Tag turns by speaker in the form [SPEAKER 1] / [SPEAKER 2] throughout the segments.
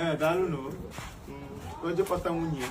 [SPEAKER 1] ee daalụ na o jekọta nwunye ya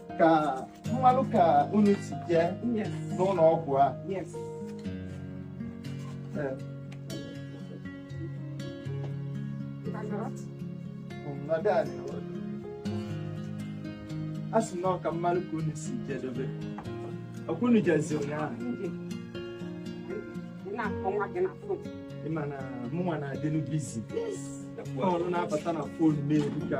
[SPEAKER 1] ka m malụ ka unu si jee
[SPEAKER 2] n'ụlọ ọgwụ
[SPEAKER 1] a a sị na ọ ka m malụ ka unu si jedebe ọ kwa unu jezi
[SPEAKER 2] ụnyaahụ ị ma na
[SPEAKER 1] mụnwa na-adịnụ busy ọrụ na-abata na phone m eruka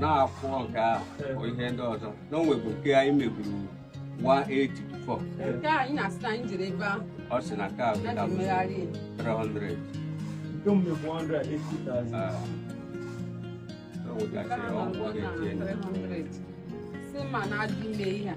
[SPEAKER 3] na-akwụ ọga bụ ihe ndị ọzọ na o nwebu nke anyị meburu 184
[SPEAKER 2] ọ sị na
[SPEAKER 3] nke a bụ 300 300
[SPEAKER 2] si ma na-adị ime ihe a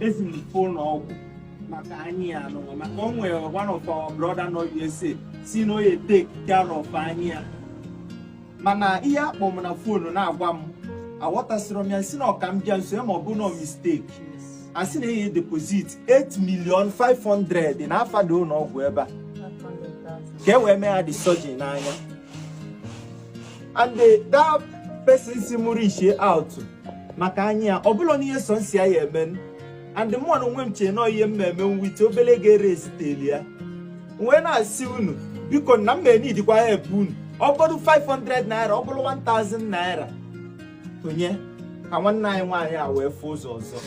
[SPEAKER 1] ezi m ụlọ ọgwụ maka anya ya nụwa maka o nwere one of our brother nọ USA sị na o ye take care of anya ya mana ihe a kpọ m na phone na-agwa m aghọtasịrọ m ya sị na ọ ka m bịa nso ya ma ọ bụ na ọ mistake a sị na enye deposit 8 million 500 na afa the ụlọ ọgwụ ebe a ka e wee mee ya the surgery n'anya and the, that person sị mụ reachie out maka anya ya ọ bụlụ na it's something ọ ya-eme and mụ na onwe m chee na ọ ihe m ma-eme with obele ego e raiseteli ya wee na-asị unu biko na m ma-eneedikwa help unu ọ bụrụ 500 naira ọ bụrụ 1000 naira o nye ka nwanne anyị nwaanyị a wee fụ ụzọ ọzọ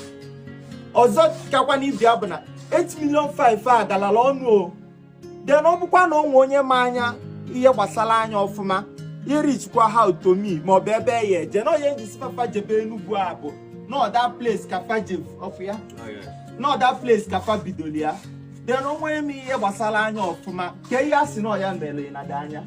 [SPEAKER 1] ọzọ kakwanụ ibe ya bụ na 8 million 5 a galala ọnụ o then ọ bụkwa na o nwe onye ma anya ihe gbasara anya ọfụma i reachikwaa out to me ma ọ bụ ebe a ya-eje na onye njisi fa fa jebe Enugu ọ bụ another place ka fa je fụ ya another place ka fa bidoro ya then o nwe onye ma ihe gbasara anya ọfụma ka ihe a sị na ọ ya mere na the anya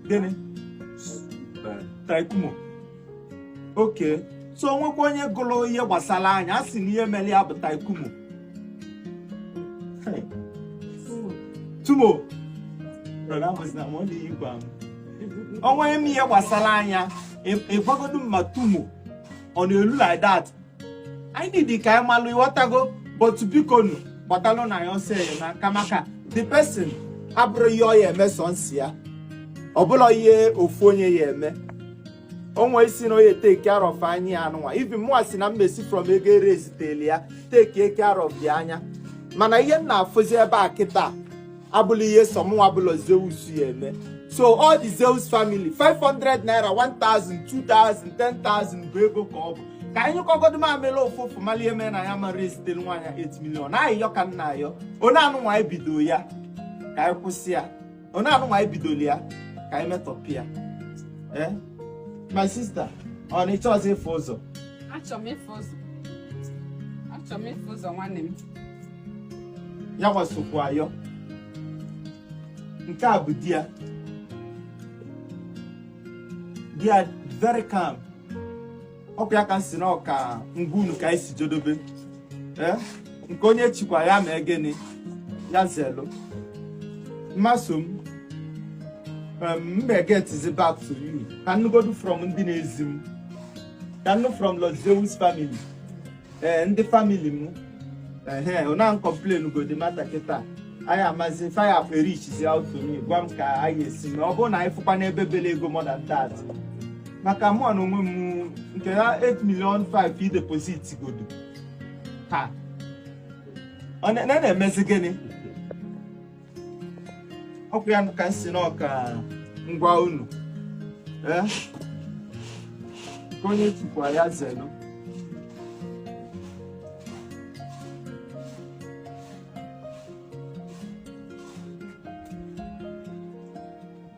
[SPEAKER 1] gịnị taikumo okay so o nwekwa onye gụrụ ihe gbasara anya a sị na ihe mere ya bụ taikumu tumour o nwe onye ma ihe gbasara anya ị gwagodu m ma tumour ọ na-elu like that anyị need ka anyị malụ ịghọtago but bikonu gbatalụ nụ ya ọsọ enyemaka maka the person abụrọ ihe ọ ya eme sọ nsị ya ọ bụla ihe ofu onye ya eme onwe isi na onye take care of anya ya anụnwa even mụnwa si na mmesi from ego ere eziteli ya take care of the anya mana ihe m na-afụzi ebe a kịta abụla ihe sọ mụnwa bụla Zeus ya eme so all the Zeus family 500 naira 1000 2000 10000 bụ ego ka ọ bụ ka anyị kọgodo mamịrị ụfụfụ mali ihe mere na anyị mara ezitere nwaanyị 8 million ayịyọ ka m na-ayọ onye anụnwa anyị bido ya ka anyị kwụsị ya onye anụnwa anyị bidoro ya ka anyị metọpụ ya ee my sister ọ na ịchọ ọzọ ịfụ ụzọ achọrọ m ịfụ ụzọ
[SPEAKER 2] achọrọ m ịfụ ụzọ nwanne m
[SPEAKER 1] ya nwa sokwu ayọ nke a bụ di ya di ya very calm ọkwa ya ka m si na ọ ka m gwa unu ka anyị si jedobe ee nke onye chikwa ya mee gịnị ya zelu mmasị m um, m ma egetizi back to you ka m nụgodu from ndị na-ezi m ka m nụ from Los Zeus family ee ndị family m ehe una complain go the matter kịta anyị amazi fire up e reachizi out to me gwa m ka anyị esi mee ọ bụrụ na anyị fụkwa n'ebe bele ego more than that maka mụwa n'onwe m nke a 8 million 5 i deposit godo ha ọ na- na- na-emezi gịnị ọkwa ya ka m si na ọ ka m gwa unu ee nke onye chikwa ya zelu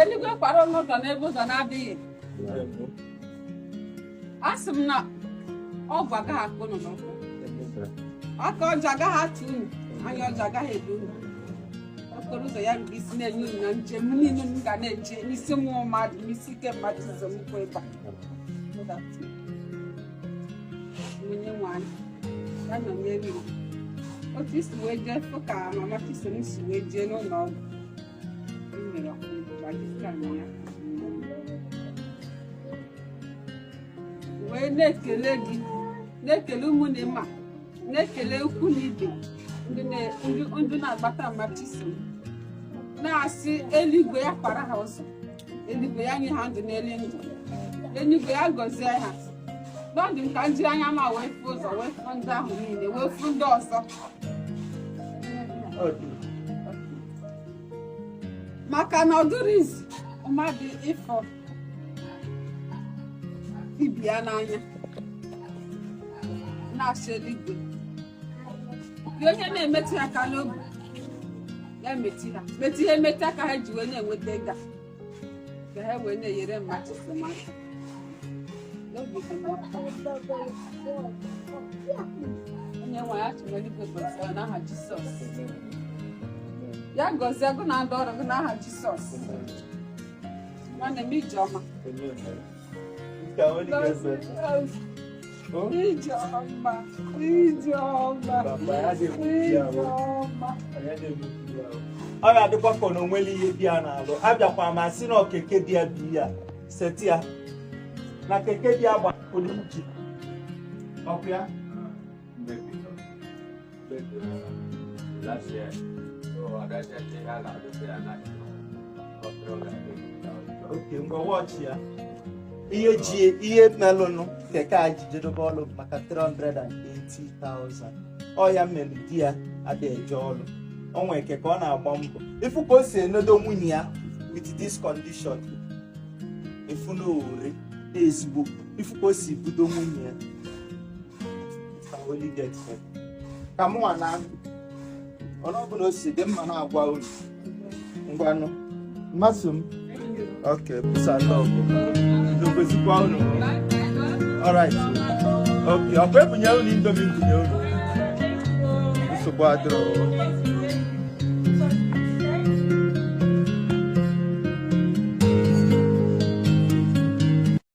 [SPEAKER 2] eluigwe kwara unu ụzọ n'ebe ụzọ na-adịghị a sị m na ogwu agaghị akpọ unu n'ụkwụ aka ọjọọ agaghị atụ unu anya ọjọọ agaghị ele unu okporo ụzọ ya rube isi na-enye unu na njem niile unu ga na-eje n'isi mmụọ mmadụ n'isi ike mmadụ ụzọ m kwụ ịba onye nwe anyị ya nọnyere unu otu i si wee jee fụ ka mama chisom si wee jee n'ụlọ ọgwụ wee na-ekele gị na-ekele ụmụnne ma na-ekele ikwu na ibe ndị na-agbata mama chisom na-asị eluigwe ya kpara ha ụzọ eluigwe ya nye ha ndụ n'elu ndụ eluigwe ya gọzie ha na ndụ ka m jiri anya m a wee fụ ụzọ wee fụ ndị ahụ niile wee fụ ndị ọzọ maka na ọ dụrọ easy mmadụ ịfụ ibe ya n'anya na-asị eluigwe dị onye na-emetụ ya aka n'obi ya metụ ha metụ ihe metụ aka ha ji wee na-enweta ego ka ha wee na-enyere mmadụ aka n'obi dị mma onye nwe anyị Chukwu eluigwe gọzie n'aha Jisọs ya gọzie gụ na ndị ọrụ gị n'aha Jisọs nwanne m ijeọma ka onye ga-ese
[SPEAKER 1] Ijeọma, Ijeọma, Ijeọma. ọ ga-adịkwa ka na onwere ihe di ya na-alụ abịakwa ma si na okeke di ya bi ya seti ya na keke di ya gbapụrụ iji ọkụ ya ngwa watch ya ihe melụnụ keke a ji jedebe ọlụ maka 380,000 ọ ya mere di ya adịghị eje ọlụ o nwere keke ọ na-agba mbụ ị fụ ka o si enedo nwunye ya with this condition ị fụ na o nwere ezigbo ị fụ ka o si budo nwunye ya ka mụ nwa na ọnụ ọbụla o si dị mma na-agwa unu ngwanụ mmasị m ok peace and love n'okwezikwa unu alright ok ọ kwa ebunye unu Indomie m bunye unu nsogbu adịrọ